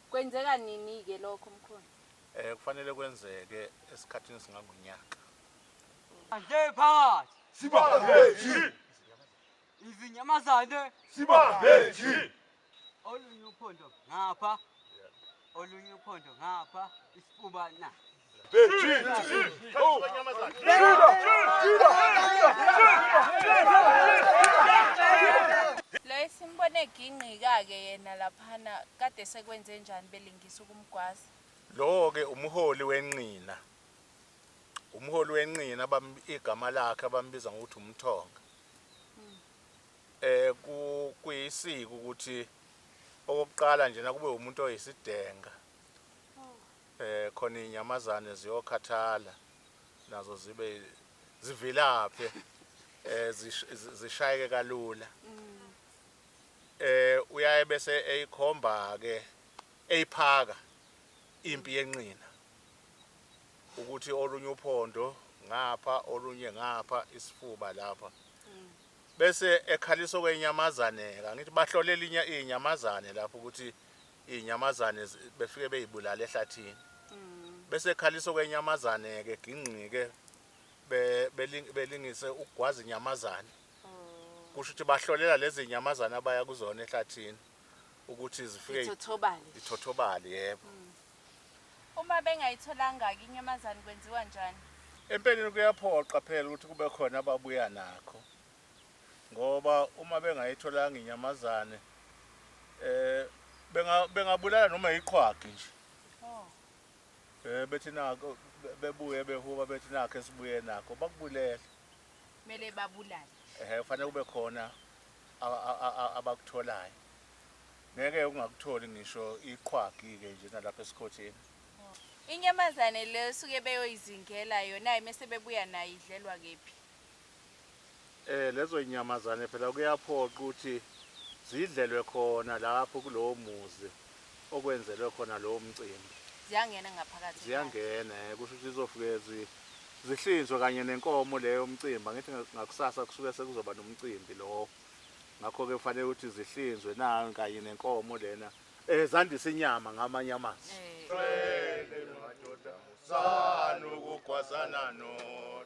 Kwenzeka nini-ke lokho, Mkhonto? Eh, kufanele kwenzeke esikhathini esingangonyaka. Bandla ephakathi! Sibambeji! Izinyamazane! Sibambeji! Olunye uphondo ngapha, olunye uphondo ngapha, isifuba na. Loye simbone egingqika-ke yena laphana kade sekwenze njani belingisa ukumgwaza. Lowo-ke umholi wenqina. Umholi wenqina igama lakhe abambiza ngokuthi umthonga. Eh kuyisiko ukuthi okokuqala nje nakube umuntu oyisidenga Khona inyamazane ziyokhathala nazo zibe zivilaphe zishayeke kalula eh uyaye bese eyikhomba ke eyiphaka impi yenqina ukuthi olunye uphondo ngapha olunye ngapha isifuba lapha bese ekhalisa okwenyamazane angithi bahlolela inyamazane lapho ukuthi Izinyamazane befike beyibulala ehlathini. Bese ekhalisa okwenyamazane-ke gingqike belingise ukugwaza inyamazane. Kusho ukuthi bahlolela lezi zinyamazane abaya kuzona ehlathini ukuthi zifike ithothobale. Ithothobale yebo. Uma bengayitholanga-ke inyamazane kwenziwa njani? Empeleni kuyaphoqa phela ukuthi kube khona ababuya nakho. ngoba uma bengayitholanga inyamazane um bengabulala noma yiqhwagi nje um bethi nako bebuye behuba bethi nakho esibuye nakho bakubulele kumele babulale um kufanele kube khona abakutholayo ngeke ungakutholi ngisho iqhwagi-ke nje nalapha esikhotheni inyamazane le suke beyoyizingela yona-ke mese bebuya nayo idlelwa kephi Lezo zinyamazane phela kuyaphoqa ukuthi zidlelwe khona lapho kulowo muzi okwenzelwe khona lowo mcimbi. Ziyangena ngaphakathi? Ziyangena, kusho ukuthi zizofike zihlinzwe kanye nenkomo le yomcimbi. Angithi ngakusasa kusuke sekuzoba nomcimbi lo, ngakho-ke kufanele ukuthi zihlinzwe nayo kanye nenkomo lena, zandise inyama ngamanye amazwi. Cwele madoda, zani ukugwazana nodwa.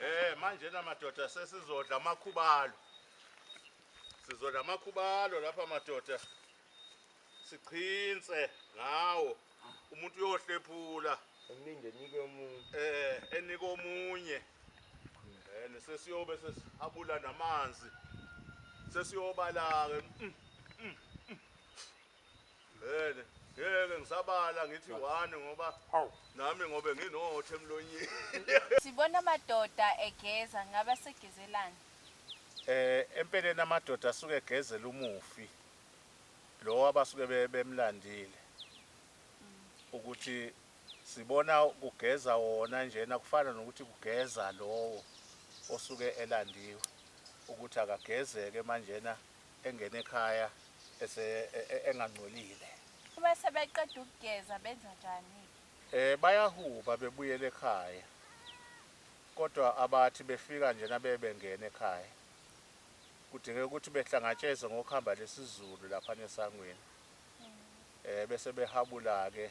Eh manje na madoda sesizodla amakhubalo. Sizodla amakhubalo lapha madoda. Siqhinse ngawo. Umuntu uyohlephula. Emningi enike umuntu. Eh enike omunye. Eh nesesiyobe sesihabula namanzi. Sesiyobala ke. Mm, mm, mm. Vele ngeke ngisabala ngithi one ngoba nami ngobe nginothe emlonyeni. Sibona amadoda egeza ngabe asegezelani? Eh empeleni amadoda asuke egezela umufi lo abasuke bemlandile ukuthi sibona kugeza wona njena kufana nokuthi kugeza lowo osuke elandiwe ukuthi akagezeke manjena engena ekhaya ese e- e- engangcolile Uma sebeqeda ukugeza benza njani-ke? Eh bayahuba bebuyela ekhaya. Kodwa abathi befika njena bebengena ekhaya. Kudingeka ukuthi behlangatsheze ngokuhamba lesizulu lapha nesangweni. Eh bese behabula ke.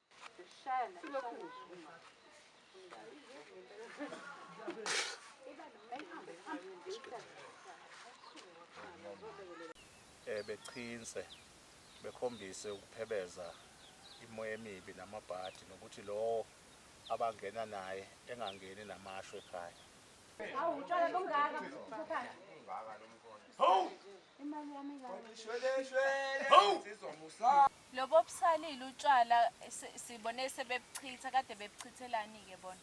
Eh, bechinse bekhombise ukuphebeza imoya emibi namabhadi nokuthi lowo abangena naye engangeni namasho ekhaya hawu utshwala bungaka hawu imali yami Lobu obusalile utshwala sibone sebebuchitha kade bebuchithelani ke bona.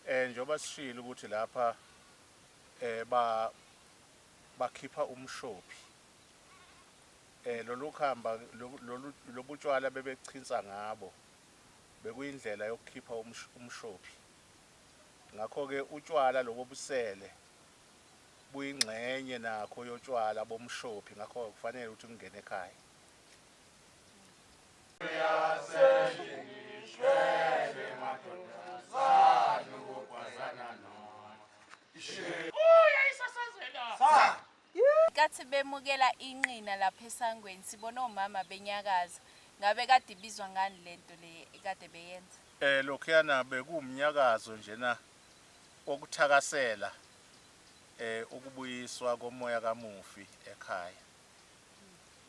Eh njengoba sishilo ukuthi lapha eh ba bakhipha umshophi eh lolu khamba lolu lobutshwala bebechinsa ngabo bekuyindlela yokukhipha umshophi ngakho ke utshwala lobo busele buyingxenye nakho yotshwala bomshophi ngakho kufanele ukuthi kungene ekhaya. Ngenkathi bemukela inqina lapha esangweni sibona omama benyakaza. Ngabe kade ibizwa ngani lento le ekade beyenza? Eh lokhuyana bekuwumnyakazo njena kokuthakasela ukubuyiswa komoya kamufi ekhaya.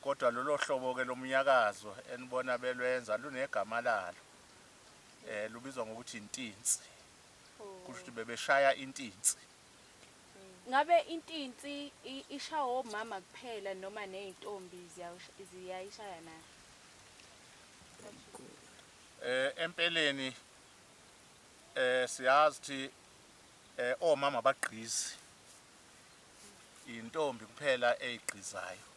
Kodwa lolo hlobo-ke lomnyakazo enibona belwenza lunegama lalo, lubizwa ngokuthi intinsi. Kusho ukuthi bebeshaya intinsi. Ngabe intinsi ishaywa omama kuphela noma ney'ntombi ziyayishaya na? Empeleni Eh siyazi thi eh omama abagqizi. Intombi kuphela eyigqizayo.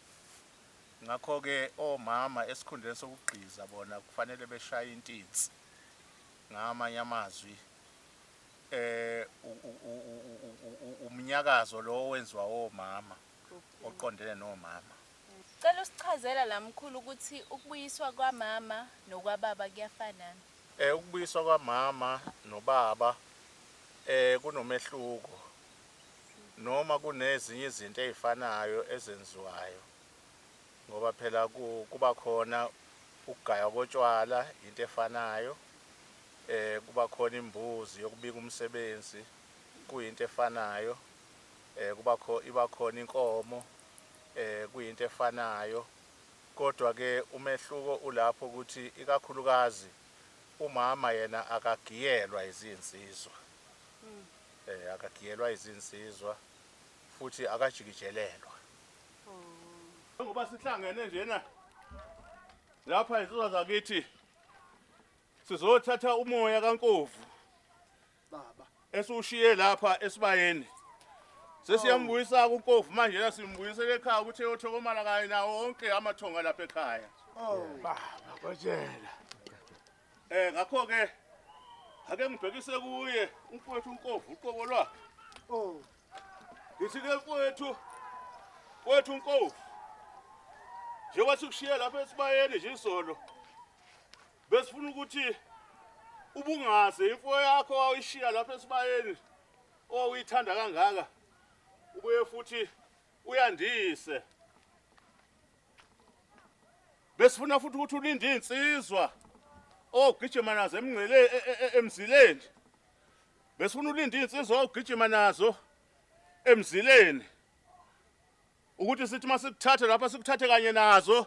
Ngakho ke omama esikhundleni sokugqiza bona kufanele beshaye intinsi. Ngamanye amazwi eh umnyakazo lo owenziwa omama oqondene nomama. Cela usichazela la mkhulu ukuthi ukubuyiswa kwamama nokwababa kuyafana. Ukubuyiswa kwamama nobaba kunomehluko noma kunezinye izinto ezifanayo ezenziwayo ngoba phela kuba khona ukugaywa kotshwala into efanayo eh kuba khona imbuzi yokubika umsebenzi kuyinto efanayo eh kuba khona iba khona inkomo eh kuyinto efanayo Kodwa ke umehluko ulapho ukuthi ikakhulukazi umama yena akagiyelwa izinsizwa eh akagiyelwa izinsizwa futhi akajikijelelwa. Njengoba sihlangene njena lapha izinsizwa zakithi sizothatha umoya kaNkovu baba esiwushiye lapha esibayeni sesiyambuyisa kukofu manje la simbuyisele ekhaya ukuthi eyothokomala kanye nawo wonke amathonga lapha ekhaya baba kotshela eh ngakho ke ake ngibhekise kuye umfowethu unkovu uqobo lwakhe oh ngithi ke mfowethu wethu unkovu njengoba sikushiye lapha esibayeni nje izolo Besifuna ukuthi ubungaze imfuyo yakho wawuyishiya lapha esibayeni owuyithanda kangaka ubuye futhi uyandise besifuna futhi ukuthi ulinde insizwa ogijima nazo emngcele e, e, e, emzileni besifuna ulinde insizwa ogijima nazo emzileni ukuthi sithi masikuthathe lapha sikuthathe kanye nazo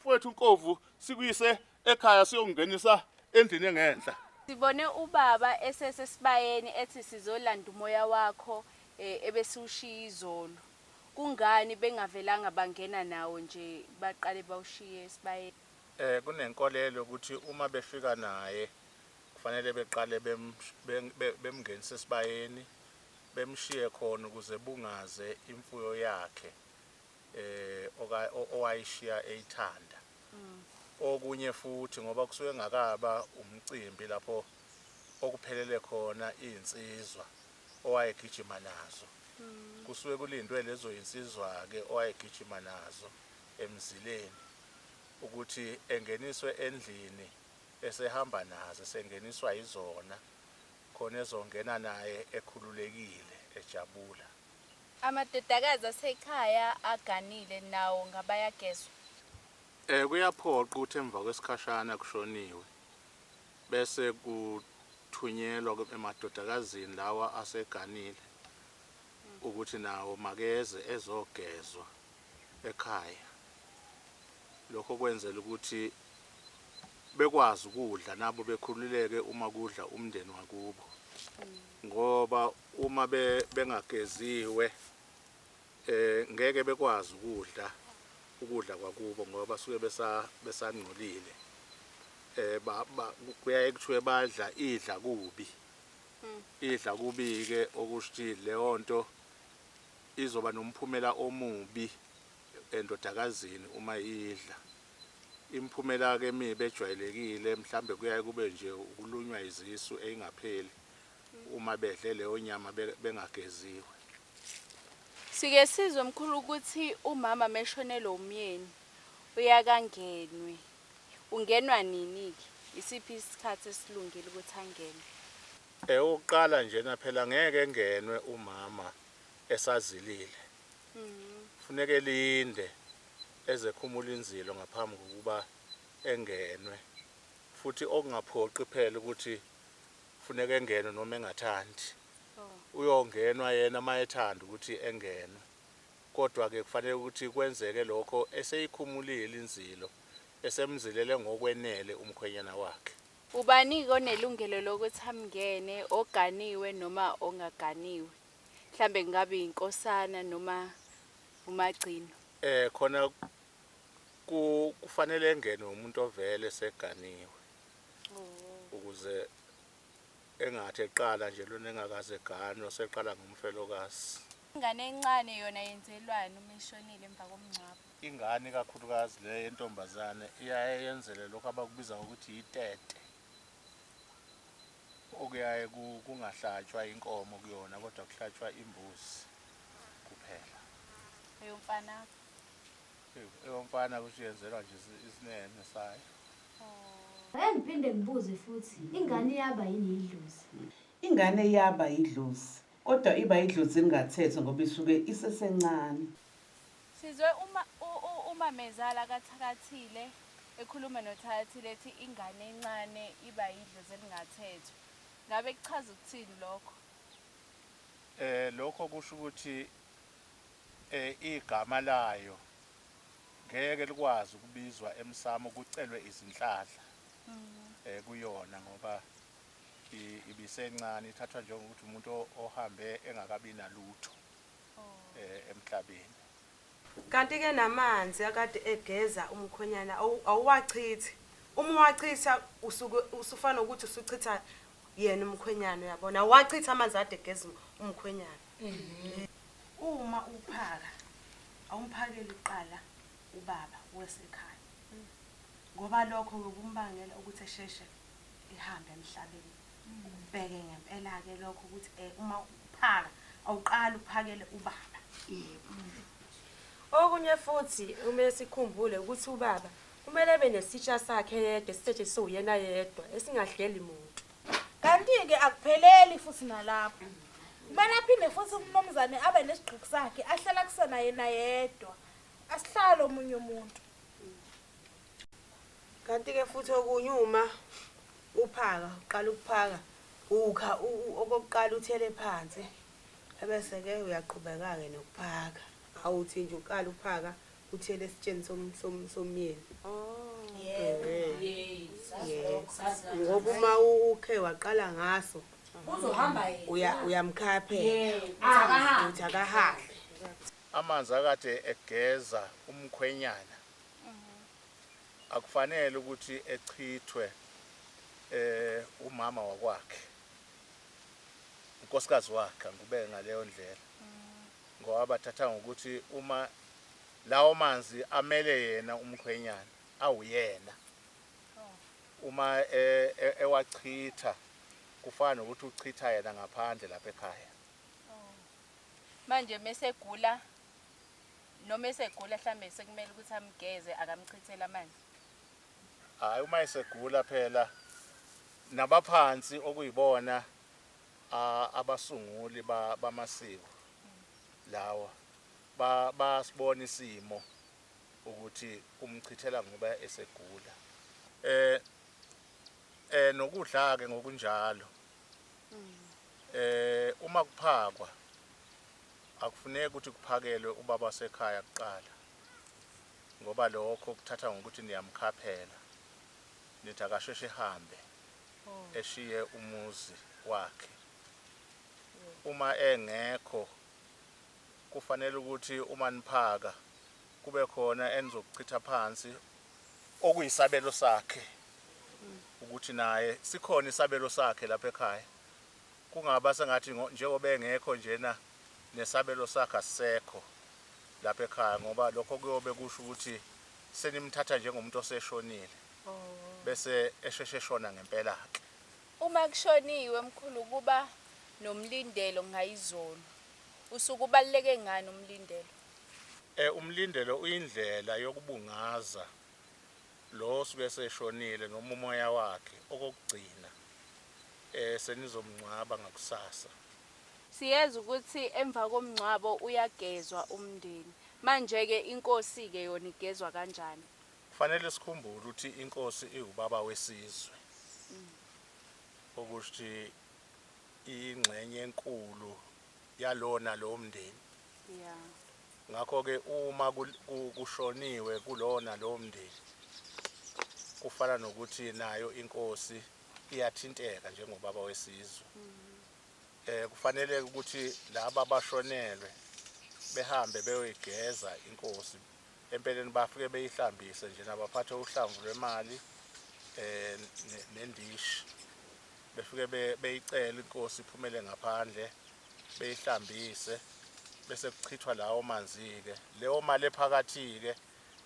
Mfowethu Nkovu sikuyise ekhaya siyokungenisa endlini engenhla. Sibone ubaba esesesibayeni ethi sizolanda umoya wakho e, ebesiwushiye izolo. Kungani bengavelanga bangena nawo nje baqale bawushiye esibayeni? Eh kunenkolelo yokuthi uma befika naye kufanele beqale bem- bem- be- bemngenise esibayeni bemshiye khona ukuze bungaze imfuyo yakhe eh oka owayishiya eyithanda okunye futhi ngoba kusuke ngakaba umcimbi lapho okuphelele khona izinsizwa owayegijima nazo kusuke kulindwe lezo zinsizwa ke owayegijima nazo emzileni ukuthi engeniswe endlini esehamba nazo esengeniswa yizona khona ezongena naye ekhululekile ejabula. Amadodakazi asekhaya aganile nawo ngabayagezwa. Eh kuyaphoqa ukuthi emva kwesikhashana kushoniwe bese kuthunyelwa emadodakazini lawa aseganile ukuthi nawo makeze ezogezwa ekhaya. Lokho kwenzela ukuthi bekwazi ukudla nabo bekhululeke uma kudla umndeni wakubo ngoba Uma be, bengageziwe, eh, ngeke bekwazi ukudla ukudla kwakubo ngoba basuke besa, besangcolile. Eh, ba, ba, kuyaye kuthiwe badla idla kubi. Idla kubi-ke okusho ukuthi leyo nto izoba nomphumela omubi endodakazini uma idla. Imiphumela-ke emibi ejwayelekile mhlawumbe kuyaye kube nje ukulunywa izisu eyingapheli uma bedle leyo nyama bengageziwe. Sike sizwe mkhulu ukuthi umama meshonelwe umyeni uyakangenwe ungenwa nini ke isiphi isikhathi esilungile ukuthi angenwe. Eyokuqala njena phela ngeke engenwe umama esazilile kufuneka elinde ezekhumula inzilo ngaphambi kokuba engenwe futhi okungaphoqi phela ukuthi Kufuneka engenwe noma engathandi. Uyongenwa yena uma ethanda ukuthi engenwe. Kodwa-ke kufanele ukuthi kwenzeke lokho eseyikhumulile inzilo, esemzilele ngokwenele umkhwenyana wakhe. Ubani-ke onelungelo lokuthi amngene, oganiwe noma ongaganiwe? Mhlawumbe kungaba inkosana noma umagcino. Khona kufanele engenwe umuntu ovele eseganiwe. ukuze engathi eqala nje lona engakaze ganwa seqala ngomfelokazi. Ingane encane yona yenzelwani uma ishonile emva komngcwabo? Ingane ikakhulukazi le yentombazane iyaye yenzele lokho abakubiza ngokuthi yitete okuyaye kungahlatshwa inkomo kuyona kodwa kuhlatshwa imbuzi kuphela. Eyomfana Eyomfana kusho yenzelwa nje isinene sayo. Ake ngiphinde ngibuze futhi, ingane iyaba yini yidlozi? Ingane iyaba yidlozi, kodwa iba yidlozi elingathethwa ngoba isuke isesencane. Sizwe umamezala kaThakathile ekhuluma noThakathile ethi ingane encane iba yidlozi elingathethwa. Ngabe kuchaza ukuthini lokho? Lokho kusho ukuthi. Igama layo ngeke likwazi ukubizwa emsamo kucelwe izinhlanhla kuyona ngoba ibisencane, ithathwa njengokuthi umuntu ohambe engakabi nalutho emhlabeni. Kanti-ke namanzi akade egeza umkhwenyana awuwachithi, uma uwachitha usuke usufana nokuthi usuchitha yena umkhwenyana, uyabona? Awuwachithi amanzi akade egeza umkhwenyana. Uma uphaka awumphakeli kuqala ubaba wesekhaya ngoba lokho kuyobe umbangela ukuthi esheshe ehambe emhlabeni. Ubheke ngempela-ke lokho ukuthi eh, uma uphaka awuqali uphakele ubaba. Okunye futhi kumele sikhumbule ukuthi ubaba kumele abe nesitsha sakhe yedwa esithethe siwuyena yedwa esingahleli muntu. Kanti-ke akupheleli futhi nalapho. Kumele aphinde futhi umnumzane abe nesigqiki sakhe ahlala kusona yena yedwa. Asihlale omunye umuntu. Kanti-ke futhi okunye uma uphaka uqala ukuphaka ukha okokuqala uthele phansi ebese-ke uyaqhubeka-ke nokuphaka awuthi nje uqala uphaka Uthiyele esitsheni som, som, somyeni. Ngoba uma ukhe waqala ngaso Uzohamba yena. uya uyamkhaya phela. Yebo. Akahambe. Uthi akahambe. Amanzi akade egeza umkhwenyana akufanele ukuthi echithwe eh umama wakwakhe unkosikazi wakhe angikubeke ngaleyo ndlela ngoba bathatha ngokuthi uma lawo manzi amele yena umkhwenyana awuyena uma e, e, ewachitha kufana nokuthi uchitha yena ngaphandle lapha ekhaya manje mesegula noma esegula mhlambe sekumele ukuthi amgeze akamchithele amanzi hayi uma esegula phela nabaphansi okuyibona a, abasunguli ba, bamasiko lawa ba, bayasibona isimo ukuthi umchithela ngoba esegula. E, e, nokudla-ke ngokunjalo. E, uma kuphakwa, akufuneki ukuthi kuphakelwe ubaba wasekhaya kuqala, ngoba lokho kuthatha ngokuthi niyamkhaphela, nithi akasheshe ehambe. eshiye umuzi wakhe uma engekho kufanele ukuthi uma niphaka kube khona enizokuchitha phansi okuyisabelo sakhe ukuthi naye sikhona isabelo sakhe lapha ekhaya kungaba sengathi njengoba engekho njena nesabelo sakhe asisekho lapha ekhaya ngoba lokho kuyobe kusho ukuthi senimthatha njengomuntu oseshonile bese esheshe eshona ngempela-ke. Uma kushoniwe mkhulu kuba nomlindelo ngayizolo. Usuke ubaluleke ngani umlindelo? Umlindelo uyindlela yokubungaza lo osuke eseshonile noma umoya wakhe okokugcina senizomngcwaba ngakusasa. Siyezwa ukuthi emva komngcwabo uyagezwa umndeni. Manje-ke inkosi-ke yona igezwa kanjani? Kufanele sikhumbule ukuthi inkosi iwubaba wesizwe, okusho ukuthi iyingxenye enkulu yalowo nalowo mndeni. Ngakho-ke uma kushoniwe kulowo nalowo mndeni, kufana nokuthi nayo inkosi iyathinteka njengobaba wesizwe. Eh kufanele ukuthi laba bashonelwe behambe beyoyigeza inkosi Empeleni bafike beyihlambise njena baphathe uhlamvu lwemali um nendishi. Befike beyicele inkosi iphumele ngaphandle beyihlambise bese kuchithwa lawo manzi-ke. Leyo mali ephakathi-ke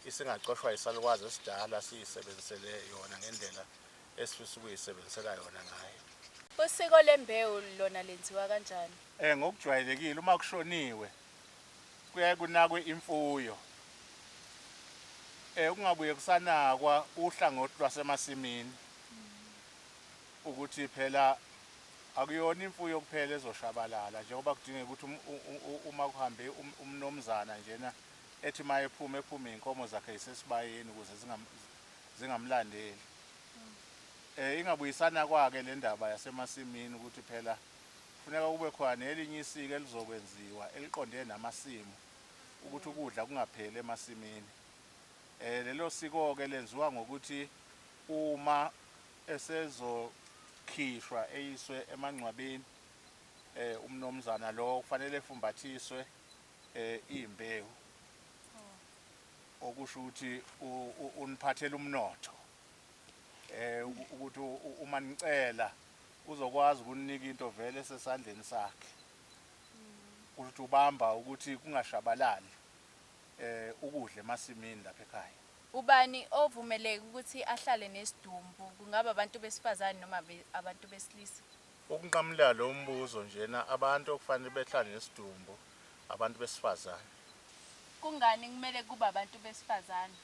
isingacoshwa yisalukwazi esidala siyisebenzisele yona ngendlela esifisa ukuyisebenzisela yona ngayo. Usiko lembewu lona lenziwa kanjani? Ngokujwayelekile uma kushoniwe kuyaye kunakwe imfuyo eh kungabuye kusanakwa uhlangothi lwasemasimini ukuthi phela akuyona imfuyo kuphela ezoshabalala njengoba kudingeka ukuthi um, uma kuhambe um, umnomzana njena ethi uma ephuma ephume iy'nkomo zakhe yisesibayeni ukuze zingamlandeli um ingabuyisanakwa-ke le ndaba yasemasimini ukuthi phela Kufuneka kube khona nelinye isiko elizokwenziwa eliqondene namasimu ukuthi ukudla kungapheli emasimini. Eh lelo siko-ke lenziwa ngokuthi uma esezokhishwa eyiswe emangcwabeni eh umnomzana lo kufanele efumbathiswe eh imbewu okusho ukuthi uniphathela umnotho eh ukuthi uma nicela Uzokwazi ukuninika into vele esesandleni sakhe. Kusho ukuthi ubamba ukuthi kungashabalali um ukudla emasimini lapha ekhaya. Ubani ovumeleke ukuthi ahlale nesidumbu, kungaba abantu besifazane noma abantu besilisa? Ukunqamula lo mbuzo njena, abantu okufanele behlale nesidumbu abantu besifazane. Kungani kumele kube abantu besifazane?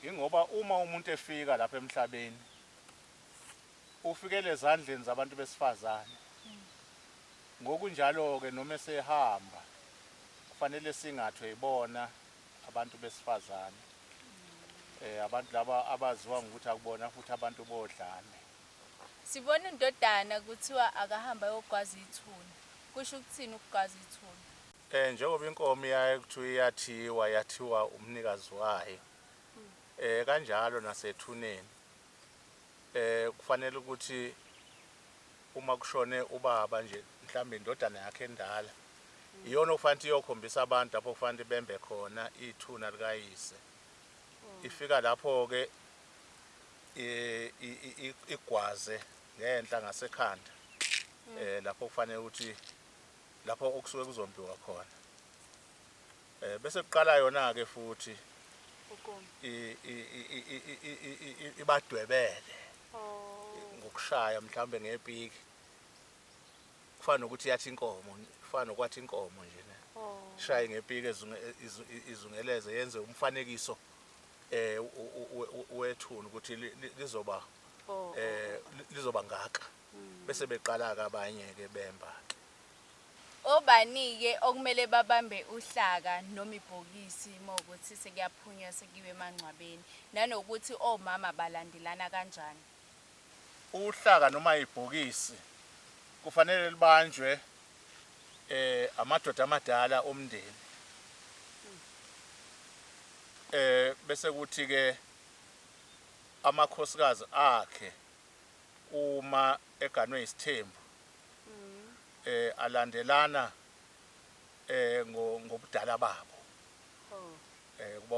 Yingoba uma umuntu efika lapha emhlabeni ufikela ezandleni zabantu besifazane. Ngokunjalo-ke noma esehamba kufanele singathwe yibona abantu besifazane. Eh abantu laba abaziwa ngokuthi akubona futhi abantu bodlame. Sibona undodana kuthiwa akahamba ayogwaza ithuna. Kusho ukuthini ukugwaza ithuna? Eh njengoba inkomo iyaye kuthiwa iyathiwa yathiwa umnikazi wayo. Eh kanjalo nasethuneni. Kufanele ukuthi uma kushone ubaba nje mhlawumbe indodana yakhe endala iyona okufanele ukuthi iyokhombisa abantu lapho kufanele bembe khona ithuna likayise hmm. ifika lapho-ke igwaze ngenhla ngasekhanda um lapho kufanele ukuthi lapho okusuke kuzombiwa khona Eh bese kuqala yona ke futhi ibadwebele oh. ngokushaya mhlawumbe ngepiki kufana nokuthi yathi inkomo kufana nokwathi inkomo nje ne oh. shaye ngepiki izungeleze yenze umfanekiso eh wethuna ukuthi lizoba oh, eh lizoba ngaka hmm. bese beqala ke abanye ke bemba ke Obani-ke okumele babambe uhlaka noma ibhokisi uma kuwukuthi sekuyaphunywa sekuyiwa emangcwabeni, nanokuthi omama balandelana kanjani? Uhlaka noma ibhokisi kufanele libanjwe amadoda amadala omndeni bese kuthi-ke amakhosikazi akhe uma eganwe yisithembu. eh alandelana eh ngobudala babo oh. eh kuba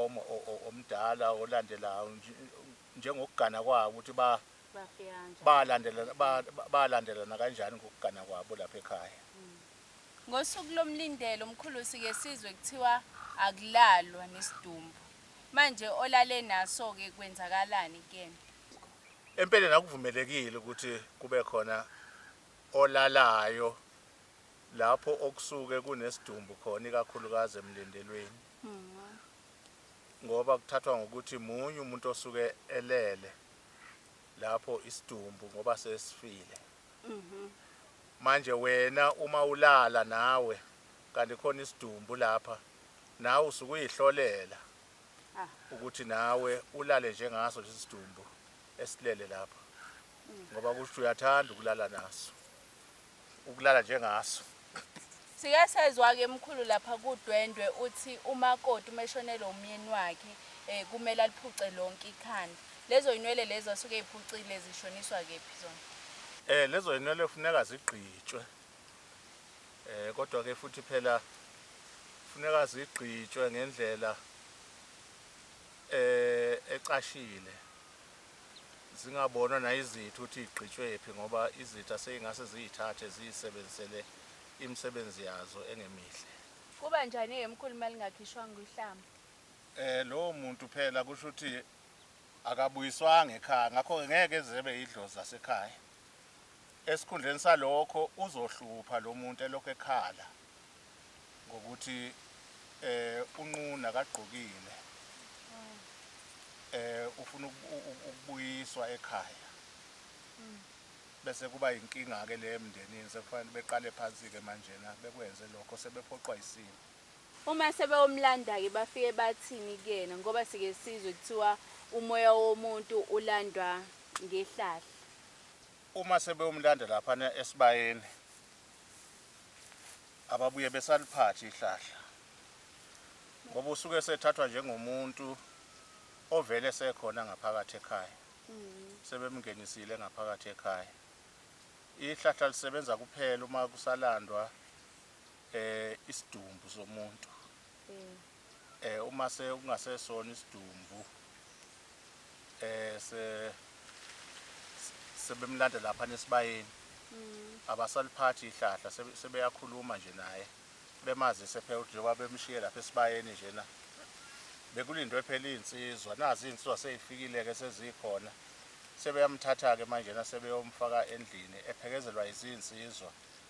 omdala olandelayo njengokugana kwabo ukuthi ba balandelana balandelana kanjani ngokugana kwabo lapha ekhaya hmm. ngosuku lomlindelo umkhulusi kesizwe kuthiwa akulalwa nesidumbu manje olale naso ke kwenzakalani kuyena Empeleni akuvumelekile ukuthi kube khona olalayo lapho okusuke kunesidumbu khona ikakhulukazi emlindelweni ngoba kuthathwa ngokuthi munye umuntu osuke elele lapho isidumbu ngoba sesifile manje wena uma ulala nawe kanti khona isidumbu lapha nawe usukuyihlolela ukuthi nawe ulale njengaso lesi sidumbu esilele lapha ngoba kusho uyathanda ukulala naso ukulala njengaso Sike sezwa-ke mkhulu lapha kudwendwe uthi umakoti uma eshonelwe umyeni wakhe um kumele aliphuce lonke ikhanda lezo ynwele lezo asuke eyiphucile zishoniswa kephi zona Eh lezo ynwele funeka zigqitshwe eh kodwa ke futhi phela kufuneka zigqitshwe ngendlela eh ecashile zingabonwa nayizithu ukuthi igqitshwephi ngoba izitha seyingase ziyithathe ziyisebenzisele imisebenzi yazo engemihle kuba njani ke mkhulu malingakhishwanga uhlamba eh lowo muntu phela kusho ukuthi akabuyiswanga ekhaya ngakho ke ngeke zebe idlozi lasekhaya Esikhundleni salokho uzohlupha lo muntu elokhu ekhala ngokuthi um unqunu akagqokile um ufuna ukubuyiswa ekhaya bese kuba yinkinga-ke le emndenini sekufanele beqale phansi-ke manjena bekwenze lokho sebephoqwa yisimo. Uma sebeyomlanda-ke bafike bathini kuyena ngoba sike sizwe kuthiwa umoya womuntu ulandwa ngehlahla. Uma sebeyomlanda laphana esibayeni ababuye besaliphathi ihlahla ngoba usuke esethathwa njengomuntu ovele esekhona ngaphakathi ekhaya, sebemngenisile ngaphakathi ekhaya. Ihlahla lisebenza kuphela uma kusalandwa eh isidumbu somuntu mm. eh uma se kungasesona isidumbu eh se sebemlanda lapha nesibayeni mm. abasaliphathi ihlahla sebeyakhuluma nje naye bemazise phela ukuthi njengoba bemshiye lapha esibayeni njena bekulindwe phela iy'nsizwa nazi iy'nsizwa sey'fikile-ke sezikhona sebeyamthatha-ke manje nasebeyomfaka endlini ephekezelwa izinsizwa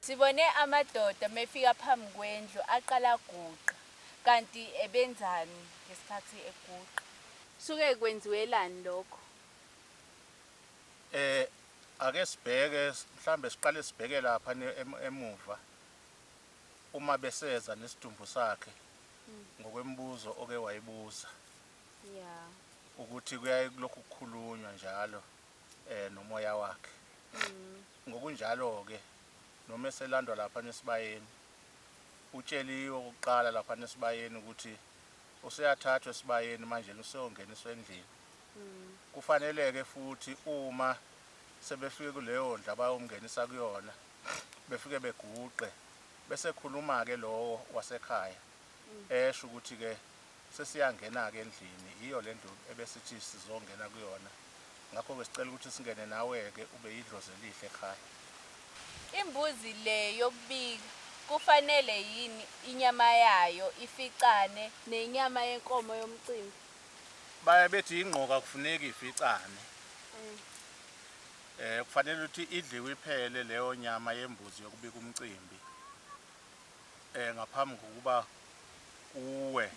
Sibone amadoda mefika phambi kwendlu aqala aguqa kanti ebenzani ngesikhathi eguqa. Suke kwenziwelani lokho? Eh ake sibheke mhlambe siqale sibheke lapha emuva uma beseza nesidumbu sakhe ngokwemibuzo oke wayibuza ukuthi kuyaye kulokhu kukhulunywa njalo nomoya wakhe. Ngokunjalo-ke, noma eselandwa laphana esibayeni, utsheliwe okokuqala laphana esibayeni ukuthi useyathathwa esibayeni manjena useyongeniswa endlini. Kufanele-ke futhi uma sebefike kuleyo ndlu abayomngenisa kuyona, befike beguqe, bese ekhuluma-ke lowo wasekhaya, esho ukuthi-ke Sesiyangena-ke endlini, yiyo le ndlu ebesithi sizongena kuyona. Ngakho-ke sicela ukuthi singene nawe-ke, ube yidlozi elihle ekhaya. Imbuzi le yokubika, kufanele yini inyama yayo ificane nenyama yenkomo yomcimbi? Baye bethi ingqoka akufuneki ificane. Kufanele ukuthi idliwe iphele leyo nyama yembuzi yokubika umcimbi. ngaphambi kokuba kuwe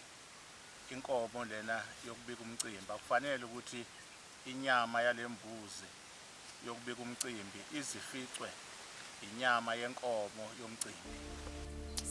inkomo lena yokubika umcimbi akufanele ukuthi inyama yalembuzi yokubika umcimbi izificwe inyama yenkomo yomcimbi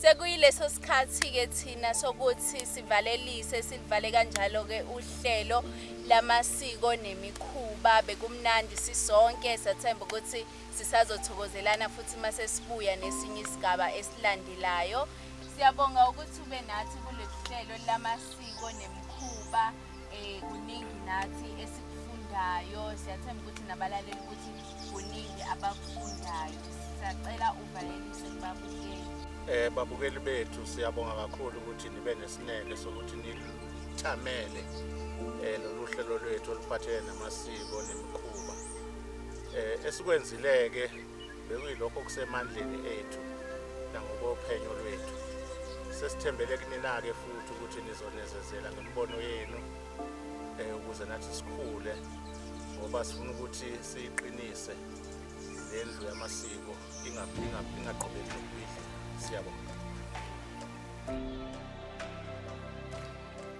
Sekuyileso sikhathi ke thina sokuthi sivalelise silivale kanjalo ke uhlelo lamasiko nemikhuba bekumnandi sisonke sathemba ukuthi Sisazothokozelana futhi uma sesibuya nesinye isigaba esilandelayo. Siyabonga ukuthi ube nathi kuleli hlelo lamasiko nemikhuba eh kuningi nathi esikufundayo siyathemba ukuthi nabalaleli ukuthi kuningi abakufundayo siyacela uvalelise kubabukeli eh babukeli bethu siyabonga kakhulu ukuthi nibe nesineke sokuthi nithamele eh lolu hlelo lwethu oluphathelene namasiko nemikhuba Eh, esikwenzileke bekuyilokho okusemandleni ethu nangokophenyo lwethu sesithembele kunina-ke futhi ukuthi nizonezezela ngemibono yenu um ukuze nathi sikhule ngoba sifuna ukuthi siyiqinise le ndlu yamasiko ingaqhubeki nokubidla siyabonga